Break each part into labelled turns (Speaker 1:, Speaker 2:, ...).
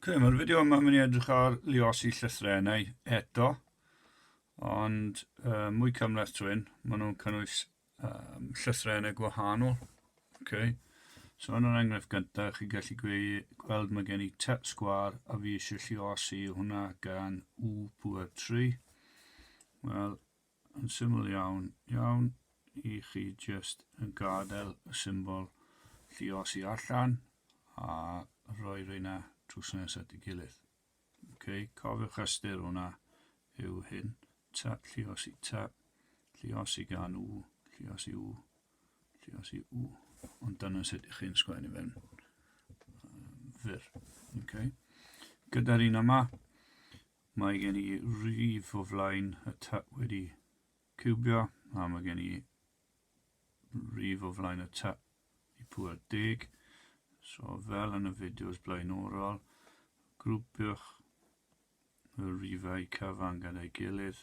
Speaker 1: Ok, mae'r fideo yma mynd i edrych ar liosi llythrennau eto, ond uh, mwy cymleth trwy'n, maen nhw'n cynnwys um, llythrennau gwahanol. Ok, so yn yr enghraifft gyntaf, chi gallu gwe, gweld mae gen i tep sgwar a fi eisiau lliosi hwnna gan U puer 3. Wel, Yn syml iawn, iawn, i chi jyst yn gadael y symbol lluosi allan a rhoi rheina drws nes at ei gilydd. Ok, cofiwch ystyr hwnna yw hyn. Ta, lluosi, ta, lluosi gan u, lluosi u, lluosi u. Ond dyna sut ych chi'n sgwennu fe'n fyr. Ok. Gyda'r un yma, Mae gen i rif o flaen y tap wedi ciwbio, a mae gen i rif o flaen y tap i pŵer deg. So fel yn y fideos blaenorol, grwpiwch y rifau cyfan gyda'i gilydd.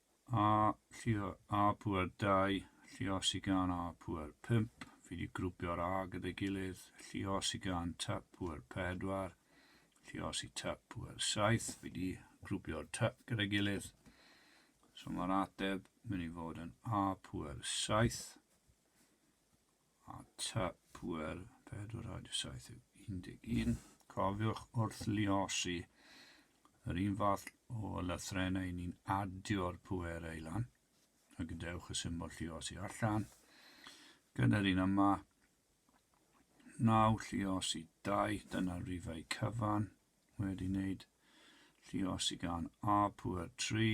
Speaker 1: A llio A pŵer 2, llio sy gan A pŵer 5, fi wedi grwpio'r A gyda'i gilydd, llio sy gan Typ pŵer 4, llio sy Typ pŵer 7, fi wedi grwpio'r Typ gyda'i gilydd. So mae'r ateb mynd i fod yn A pŵer 7. a tŷ pŵer 471. Cofiwch wrth luosi, yr un fath o lythrennau ni'n adio'r pŵerau i lan, a gadewch y symbol lluosi allan. Gyda'r un yma, 9 lluosi 2, dyna'r rifau cyfan, wedi wneud lluosi gan A pŵer 3,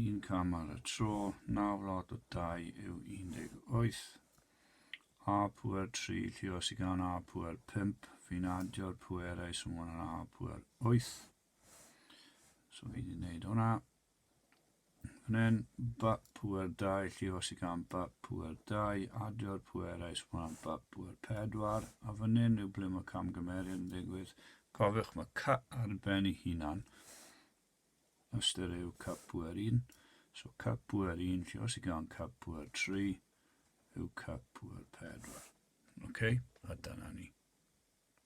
Speaker 1: Un cam ar y tro, naw wlad o dau yw 18. A pŵer 3, llios i gan A pŵer 5, fi'n adio'r pwerau sy'n mwyn ar A pŵer 8. So fi wedi gwneud hwnna. Fan hyn, ba pŵer 2, llios i gan ba pŵer 2, adio'r pwerau sy'n mwyn ar ba pŵer 4, a fan hyn yw ble mae camgymeriad yn digwydd. Cofiwch mae cut ar ben ei hunan, Ystyr yw cap pŵer un. So cap pŵer un, lle os i gael cap pŵer tri, yw cap pŵer pedwar. OK, a dyna ni.